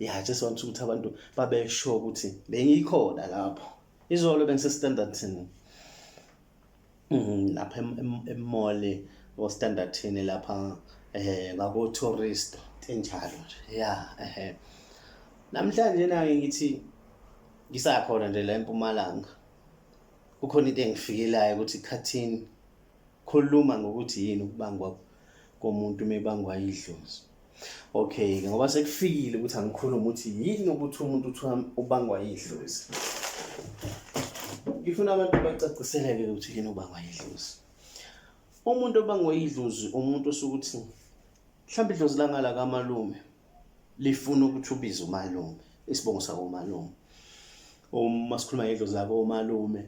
ya yeah, just want ukuthi abantu babesho ukuthi bengikhona lapho izolo bengisestandardton mm, lapha emole ostandardton lapha um eh, ngakotourist enjalo nje ya ehe namhlanje nake ngithi ngisakhona nje la empumalanga kukhona into engifikelayo ukuthi khathini khuluma ngokuthi yini ukubangwa komuntu mebangwa idlozi Okay, ke ngoba sekufikile ukuthi angikhulume ukuthi yini ukuthi umuntu uthi ubangwa yidlozi. Ngifuna abantu bacaciseleke ukuthi yini ubangwa yidlozi. Umuntu obangwa yidlozi umuntu osukuthi mhlawumbe idlozi langala kamalume lifuna ukuthi ubize umalume isibongo sakomalume. Uma sikhuluma ngedlozi lakomalume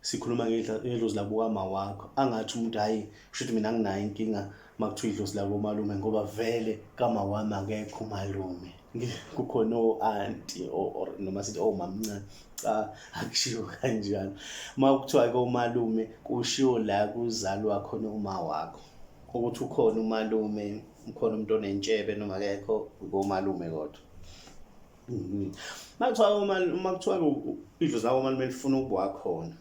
sikhuluma ngedlozi lakukama wakho angathi umuntu hhayi kusho ukuthi mina anginayo inkinga uma kuthiwa idlozi lakomalume ngoba vele kama wami akekho umalume kukhona o-anti or noma sithi omamncane cha akushiwo kanjalo uma kuthiwa komalume kushiwo la kuzalwa khona uma wakho ukuthi ukhona umalume ukhona umuntu onentshebe noma akekho komalume kodwa Mhm. Makuthiwa uma uma kuthiwa idlozi lako mali melifuna ukuba wakhona.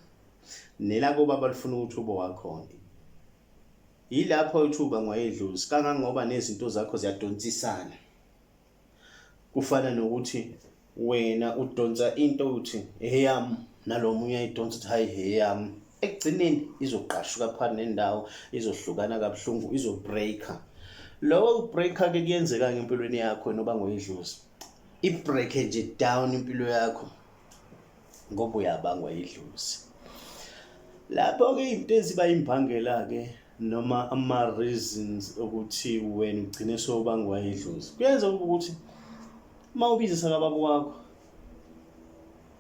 Nelako baba lifuna ukuthi ube wakhona. Yilapho ithuba ngwayedlozi kangangoba nezinto zakho ziyadonsisana. Kufana nokuthi wena udonsa into uthi eyami nalo munye ayidonsa ukuthi hayi heyam ekugcineni izogqashuka phakathi nendawo izohlukana kabuhlungu izobreaka lowo kubreaka-ke kuyenzeka ngempilweni yakho wena uba ngoyidlozi ibreake nje down impilo yakho ngoba uyabangwa yidlozi lapho-ke izinto eziba imbangela-ke noma ama-reasons okuthi wena ugcine sowubangwa yidlozi kuyenza ukuthi uma ubizisa kababa wakho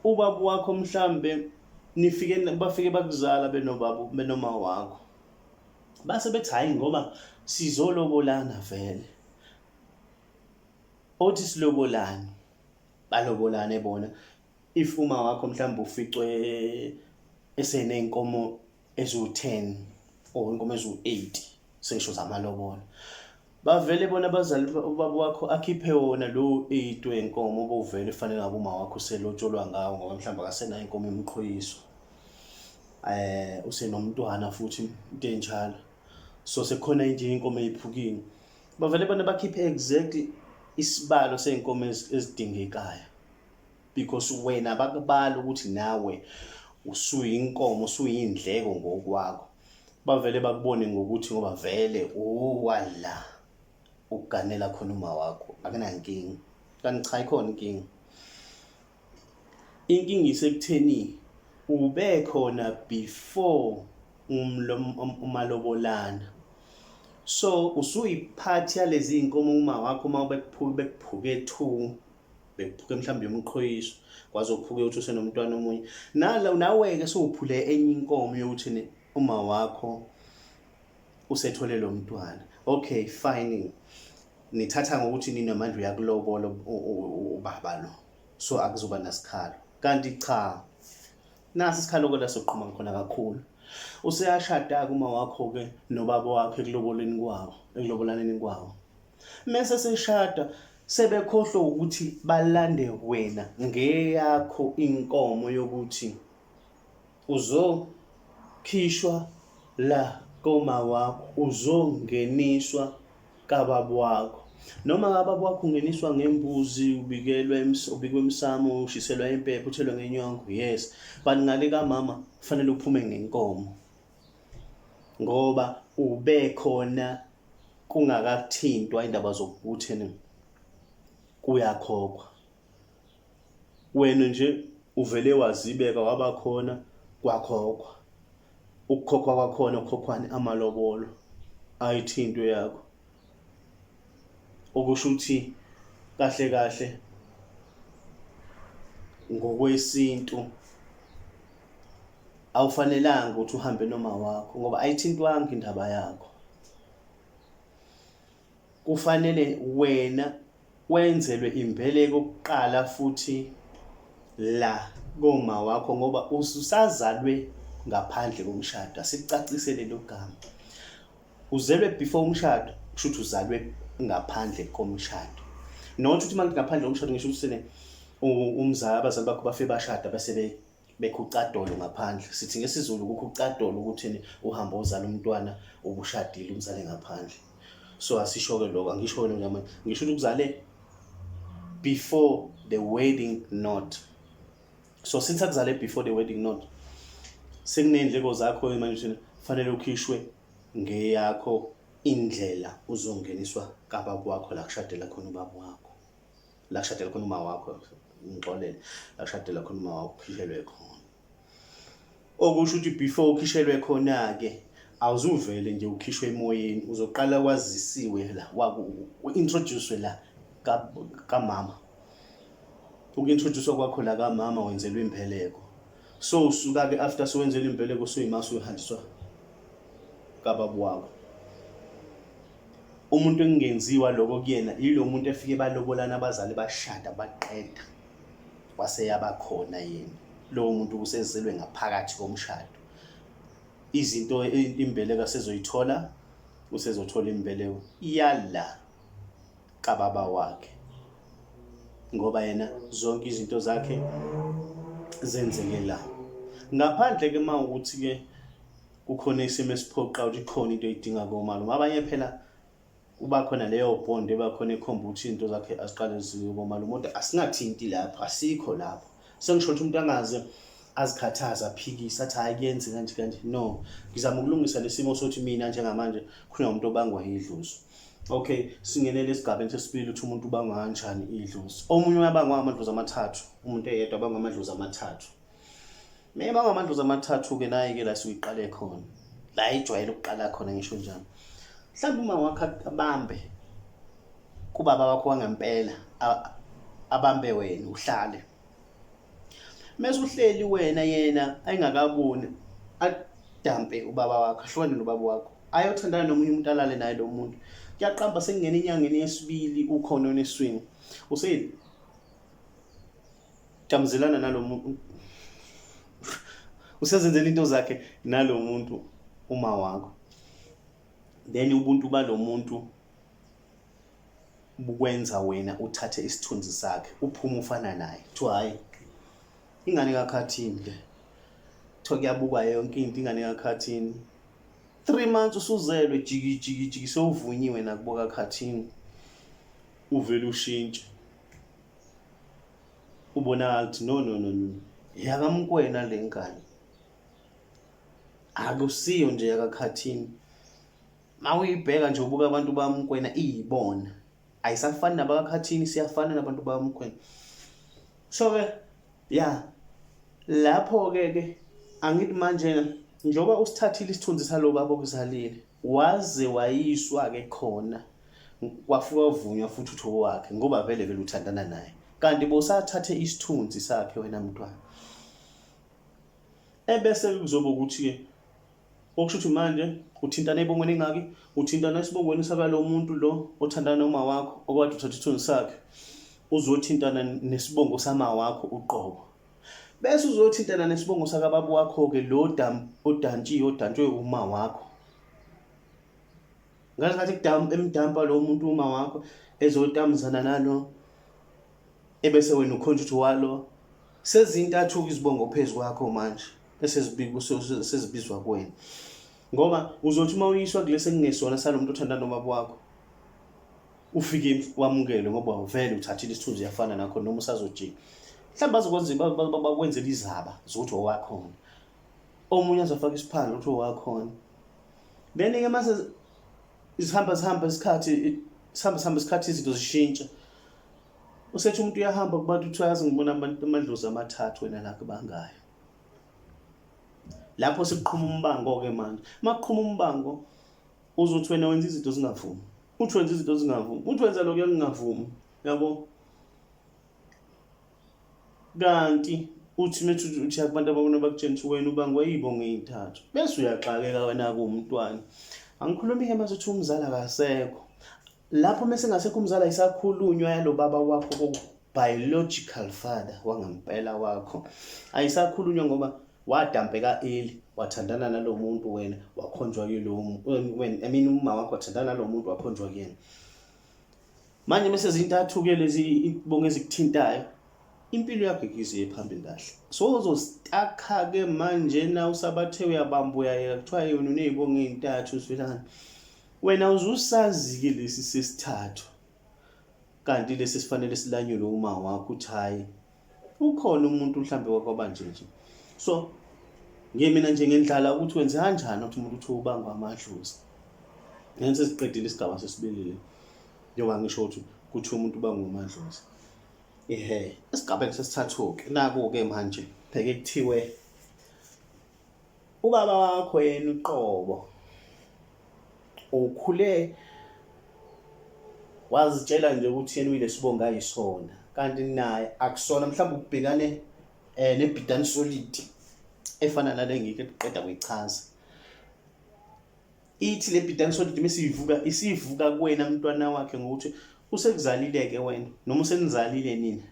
ubaba wakho mhlambe nifike bafike bakuzala benobaba benoma wakho base bethi hayi ngoba sizolobolana vele othi silobolani balobolane bona if uma wakho mhlawumbe uficwe eseneyinkomo eziwu-10 or inkomo eziwu-8 sengisho zamalobona bavele bona abazali ubaba wakho akhiphe wona lowo eight wenkomo obuvele fanele ngabe uma wakho uselotsholwa ngawo ngoba mhlawumbe akasenayo inkomo yomqhoyiso eh usenomntwana futhi into enjalo so sekukhona nje inkomo eyiphukile bavele bona bakhiphe exactly isibalo seyinkomo ezidingekayo because wena bakubala ukuthi nawe usuyinkomo usuyindleko ngokwakho bavele bakubone ngokuthi ngoba vele uwala ukuganela khona uma wakho akunankinga kanti cha ikhona inkinga inkinga isekutheni ube khona before umalobolana so usuyiphathi yalezi iy'nkomo uma wakho uma bekuphuke two bekuphuke mhlawumbe yomqhoyiso kwaze uphuke uthi usenomntwana omunye nala nawe-ke sowuphule enye inkomo yokuthini uma wakho usethole lo mntwana okay fine nithatha ngokuthi ninamandla uyakulobola ubaba lo so akuzoba nasikhalo kanti cha nasi isikhalo kodwa soqhuma khona kakhulu useyashada-ke uma wakho-ke nobaba wakho ekuloboleni kwawo ekulobolaneni kwawo Mese seshada sebekhohlwa ukuthi balande wena ngeyakho inkomo yokuthi uzokhishwa la koma wakho uzongeniswa kababa wakho noma kababa wakho ungeniswa ngembuzi ubikelwa ubikwa emsamo ushiselwa impepho uthelwa ngenyongo yes but ngale kamama kufanele uphume ngenkomo ngoba ube khona kungakathintwa indaba zokuthi ni kuyakhokhwa wena nje uvele wazibeka wabakhona kwakhokhwa ukukhokhwa kwakhona ukhokhwani amalobolo ayithinto yakho okusho ukuthi kahle kahle ngokwesintu awufanelanga ukuthi uhambe noma wakho ngoba ayithintwanga indaba yakho kufanele wena wenzelwe imbeleko kuqala futhi la koma wakho ngoba ususazalwe ngaphandle komshado asikucacisele lo gama uzelwe before umshado kusho ukuthi uzalwe ngaphandle komshado not ukuthi manje ngaphandle komshado ngisho ukuthi sene umzali abazali bakho bafe bashada bese bekhucadolo ngaphandle sithi ngesizulu kukhucadolo ukuthini uhambe uzala umntwana ubushadile umzale ngaphandle so asisho-ke lokho angisho wena ngamanye ngisho ukuthi ukuzale before the wedding note so since akuzale before the wedding note sekuney'ndleko zakho manje ukuthi kufanele ukhishwe ngeyakho indlela uzongeniswa kababa wakho la kushadela khona ubaba wakho la kushadela khona uma wakho ngixolele la kushadela khona uma wakho ukhishelwe khona okusho ukuthi before ukhishelwe khona ke awuzuvele nje ukhishwe emoyeni uzoqala kwazisiwe la introduce la kamama ukintroduce kwakho la kamama wenzelwe impheleko so usuka ke after sowenzelwe impheleko soyimasa uyohanjiswa kababu wakho umuntu engingenziwa lokho kuyena yilo muntu efike balobolana abazali bashada baqeda waseyaba khona yena lowo muntu usezelwe ngaphakathi komshado izinto imbeleko asezoyithola usezothola imbeleko iyala kababa wakhe ngoba yena zonke izinto zakhe zenzeke la ngaphandle ke mawukuthi ke kukhona isimo esiphoqa ukuthi khona into edinga komalo ngabanye phela kuba khona leyo bond eba khona ekhomba ukuthi into zakhe aziqale ziwe komalo umuntu asingathinti lapho asikho lapho sengisho ukuthi umuntu angaze azikhathaza aphikise athi hayi kuyenze kanje kanje no ngizama ukulungisa lesimo sothi mina njengamanje khona umuntu obangwa yidlozi okay singenele esigabeni sesibili ukuthi umuntu ubangwa kanjani idlozi omunye uyabangwa amadlozi amathathu umuntu eyedwa abangwa amadlozi amathathu Mema ngamadlozi amathathu-ke naye-ke la siyiqale khona la ijwayele ukuqala khona ngisho njalo mhlawumbe uma wakho abambe kubaba wakho wangempela abambe wena uhlale mese uhleli wena yena ayengakaboni adampe ubaba wakho ahlukane nobaba wakho ayothandana nomunye umuntu alale naye lo muntu kuyaqamba sekungena enyangeni yesibili ukhona oneswini useyini Tamzelana nalo muntu. Usezenzela into zakhe nalo muntu uma wakho. Then ubuntu balo muntu bukwenza wena uthathe isithunzi sakhe uphume ufana naye kuthiwa hhayi ingane kakhathini le kuthiwa kuyabukwa yonke into ingane kakhathini three months usuzelwe jikijikijiki sewuvunyiwe nakubo kakhathini uvele ushintshe ubonakala ukuthi no no no no yakamkwena le ngane akusiyo nje yakakhathini mawuyibheka nje ubuka abantu bamkwena iyibona ayisafani nabakakhathini siyafana nabantu bamkwena so ke ya lapho ke ke angithi manje njengoba usithathile isithunzi salo baba okuzalile Waze wayiswa ke khona kwafika uvunywa futhi uthi owakhe ngoba vele vele uthandana naye kanti bosathathe isithunzi sakhe wena mntwana ebese kuzoba ukuthi ke okusho ukuthi manje uthintana ebongweni engaki uthintana esibongweni sakalo muntu lo othandana noma wakho okwade uthatha isithunzi sakhe uzothintana nesibongo sama wakho uqobo Bese uzothintana nesibongo sakababa wakho-ke lo odantshiwe odantshwe uma wakho ngasikhathi emdampa lo muntu uma wakho ezotamzana nalo ebese wena ukhonja ukuthi walo sezintathu-ke izibongo phezu kwakho manje esezibizwa kuwena ngoba uzothi uma uyiswa kulesi ekungesona salo muntu othanda nobaba wakho ufike wamukele ngoba vele uthathile isithunzi uyafana nakho noma usazojika mhlawumbe azokwenza bakwenzela izaba zokuthi owakhona omunye azofaka isiphandla ukuthi owakhona then-ke mase zihamba zihamba isikhathi sihamba sihamba isikhathi izinto zishintsha usethi umuntu uyahamba kubantu kuthiwa yazi ngibona amadlozi amathathu wena la kubangayo lapho sekuqhuma umbango-ke manje uma kuqhuma umbango Uze uthi wena wenza izinto zingavumi. Uthi wenza izinto zingavumi. Uthi wenza lokho engingavumi. Yabo? Kanti uthi methi uthi abantu abakona bakutshela ukuthi wena ubangwa yibo ngey'thathu. Bese uyaxakeka wena-ke umntwana. Angikhulumi-ke mase uthi umzali akasekho. lapho mese ngasekho umzala isakhulunywa yalobaba wakho ko biological father wangampela wakho ayisakhulunywa ngoba wadampeka eli wathandana nalomuntu wena wakhonjwa kulo wena i mean uma wakho wathandana nalomuntu wakhonjwa kuyena manje mese zintathu ke lezi ibonge ezikuthintayo impilo yakho ikiziye phambili kahle so uzostakha ke manje na usabathe uyabamba uyayeka kuthiwa yona unezibonge ezintathu usivelana Wena uzusazi-ke lesi sesithathu kanti lesi sifanele silanyulwe uma wakho uthi hhayi ukhona umuntu mhlawumbe wakwabanje nje so ngiye mina nje ngendlala ukuthi wenze kanjani ukuthi umuntu uthiwa ubangwa amadlozi ngani sesiqedile isigaba sesibelile njengoba ngisho ukuthi kuthiwa umuntu ubangwa amadlozi ehe esigabeni sesithathu-ke naku-ke manje pheke kuthiwe Ubaba wakho yena uqobo ukhule wazitshela nje ukuthi yena uyilesibonga yisona kanti naye akusona mhlawumbe ukubhekane eh nebhidani solid efana nale ngike kuqeda kuyichaza ithi le bhidani solid mesiyivuka isivuka kuwena mntwana wakhe ngokuthi usekuzalile ke wena noma usenizalile nina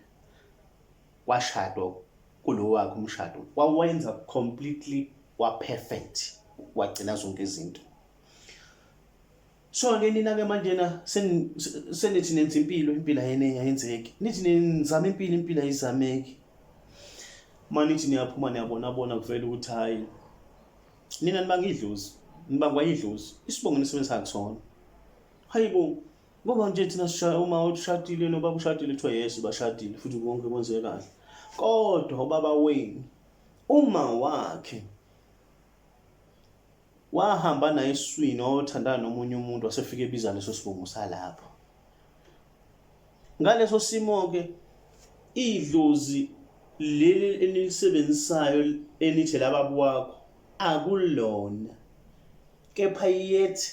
washadwa kulo wakhe umshado wawenza completely waperfect wagcina zonke izinto so ke nina ke manjena senithi nenza impilo impilo ayenenye ayenzeki nithi nizama impilo impilo ayizameki manithi niyaphuma niyabona bona kuvela ukuthi hayi nina nibanga idlozi nibangwa idlozi isibongo nisebenzisa kusona hayibo Ngoba nje thina sishaya uma ushadile nobaba ushadile kuthiwa yesu bashadile futhi konke kwenzeke kahle. Kodwa ubaba wenu uma wakhe wahamba naye eswini wayothandana nomunye umuntu wasefike ebiza leso sibongo salapho. Ngaleso simo ke idlozi leli enilisebenzisayo enithi lababa wakho akulona kepha yethi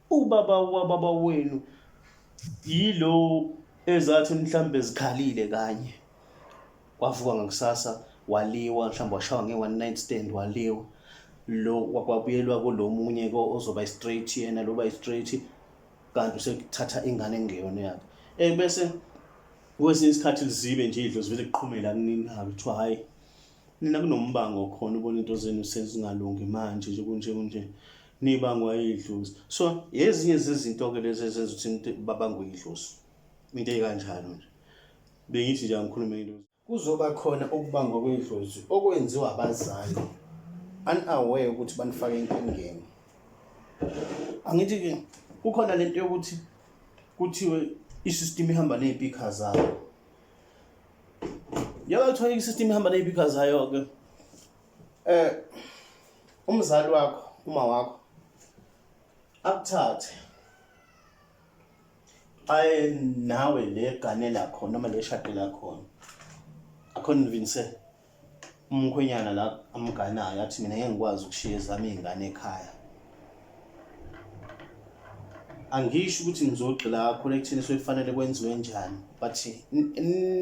Ubaba wababa wenu yilo ezathi mhlambe zikhalile kanye. Wavuka ngakusasa waliwa mhlawumbe washawa nge-one night stand waliwa lo kwakwabuyelwa kulomunye ko ozoba straight yena loba straight kanti usekuthatha ingane engeyona yakhe eh bese kwesinye isikhathi lizibe nje idlozi vele kuqhumela kunini hayi kuthiwa hayi Nina kunombango okhona ubona into zenu sezingalungi manje nje kunje kunje nibangwa idlozi. So yezinye zezinto ke lezi ezenza ukuthi umuntu babangwe idlozi. Into ekanjalo nje. Bengithi nje angikhulume idlozi. Kuzoba khona ukubangwa kwedlozi okwenziwa abazali unaware ukuthi banifake enkingeni. Angithi ke kukhona lento yokuthi kuthiwe isystem ihamba nezimpikha zabo. Yaba kuthiwa i-system ihamba ney'pikha zayo-ke. Eh umzali wakho, uma wakho akuthathe aye nawe le gane lakho noma le shade lakhona akhona uvinise umkhwenyana la amganayo athi mina ngeke ngikwazi ukushiya ezami izingane ekhaya angisho ukuthi ngizogxila kakhulu ekutheni sokufanele kwenziwe njani but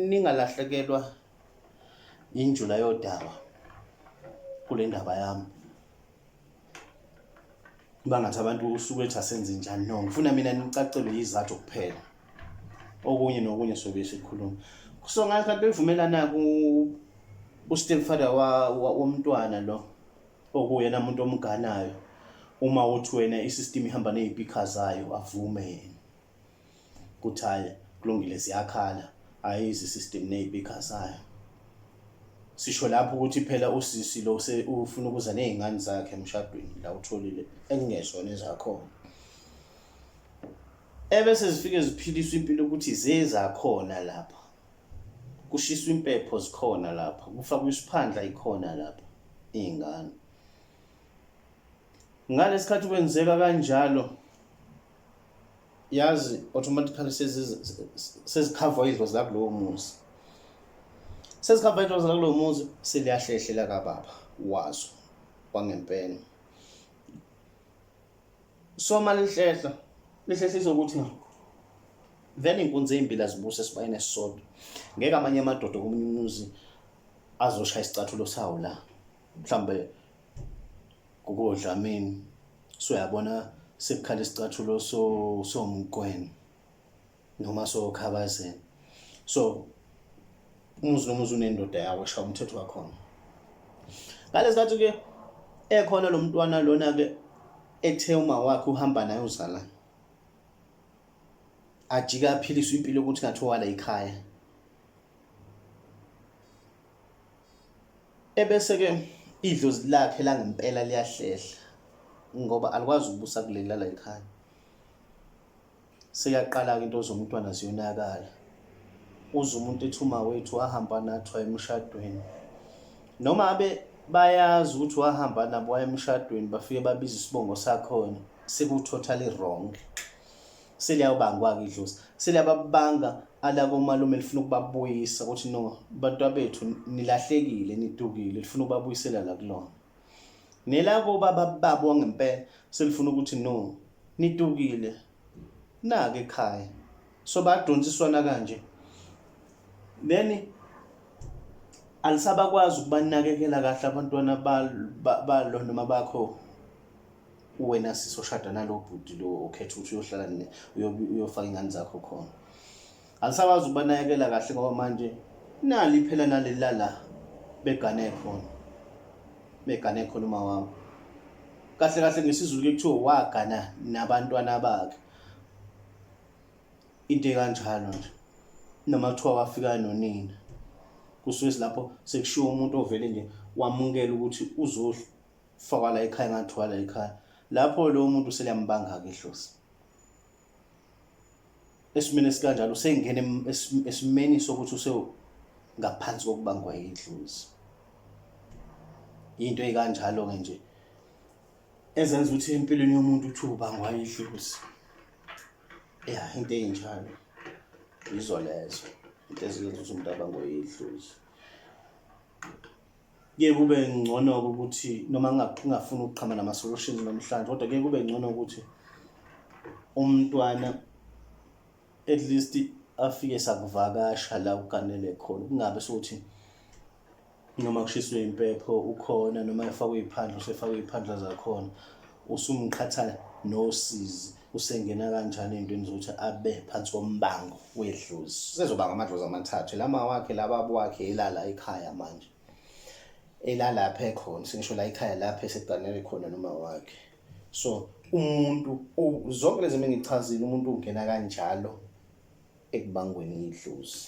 ningalahlekelwa yinjula yodaba kule ndaba yami kuba ngathi abantu usuku ethi asenze njani no ngifuna mina nicacelwe yizathu kuphela okunye nokunye sobe sikhuluma so ngathi kanti bevumelana ku ustep father womntwana lo okuyena muntu omganayo uma uthi wena isystem ihamba nezipikha zayo avume yena kuthi hayi kulungile ziyakhala hayi izisystem neyiphi ikhasayo sisho lapho ukuthi phela usisi lo ufuna ukuza nezingane zakhe emshadweni la utholile ekungezona ezakhona ebese zifike ziphiliswa impilo ukuthi zezakhona lapha kushiswa impepho zikhona lapha kufakwa isiphandla ikhona lapha izingane ngalesikhathi kwenzeka kanjalo yazi automatically sezikhavwa izwa zakulowo muzi sezikhavwa izwa zakulowo muzi seliyahlehlela kababa wazo kwangempela so uma lihlehla lihlehlisa ukuthi na vele inkunzi ezimbili azibuse esibayeni esisodwa ngeke amanye amadoda komunye umuzi azoshaya isicathulo sawo la mhlawumbe Gogo Dlamini soyabona sekukhala isicathulo so somqweni noma sokhabazeni so umuzi nomuzi unendoda yawo esha umthetho wakhona ngalesikhathi ke ekhona lo mntwana lona ke ethe uma wakhe uhamba naye uzala ajika aphilisa impilo ukuthi ngathiwa la ikhaya Ebese-ke idlozi lakhe langempela liyahlehla ngoba alikwazi ukubusa kuleli lala ekhaya. Seyaqala-ke into zomntwana ziyonakala. Uze umuntu ethi umawethu wahamba nathi waye emshadweni. Noma abe bayazi ukuthi wahamba nabo waye emshadweni bafike babiza isibongo sakhona sekuthotally wrong. seliyabangwa-ke idlozi seliyababanga alakomalume lifuna ukubabuyisa ukuthi no bantu abethu nilahlekile nidukile lifuna ukubabuyisela la kulona nelakobaba babo wangempela selifuna ukuthi no nidukile nake ekhaya so badonsiswana kanje then alisabakwazi ukubanakekela kahle abantwana balo noma bakho uwena sisi oshada nalo bhuti lo okhetha ukuthi uyohlala ne uyofaka ingane zakho khona alisakwazi ukubanakekela kahle ngoba manje nali phela naleli lala begane khona begane khona uma wami kahle kahle ngesizulu ke kuthiwa wagana nabantwana bakhe into ekanjalo nje noma kuthiwa wafika nonina kusuke silapho sekushiwo umuntu ovele nje wamukela ukuthi uzohlu fakwa la ekhaya ngathiwa la ekhaya lapho lowo muntu seliyambanga-ke ihlosi esimeni esikanjalo usengena esimeni sokuthi usengaphansi kokubangwa yidlozi into eyikanjalo-ke nje ezenza ukuthi empilweni yomuntu uthi ubangwa yidlozi ya into eyinjalo yizo lezo into eziyenza ukuthi umuntu abangwe yidlozi kuye kube ngcono-ke ukuthi noma ngingafuni ukuqhama nama-solutions namhlanje kodwa kuye kube ngcono ukuthi umntwana at least afike sakuvakasha la uganele khona kungabe sokuthi noma kushiswe impepho ukhona noma efakwe iy'phandla usefakwe iy'phandla zakhona usumqhatha nosizi usengena kanjani ey'ntweni zokuthi abe phansi kombango wedlozi sezobanga amadlozi amathathu lama wakhe lababa wakhe elala ekhaya manje elalapha ekhona sengisho la ekhaya lapha eseganele khona noma wakhe so umuntu zonke lezi mina ngichazile umuntu ungena kanjalo ekubangweni idlozi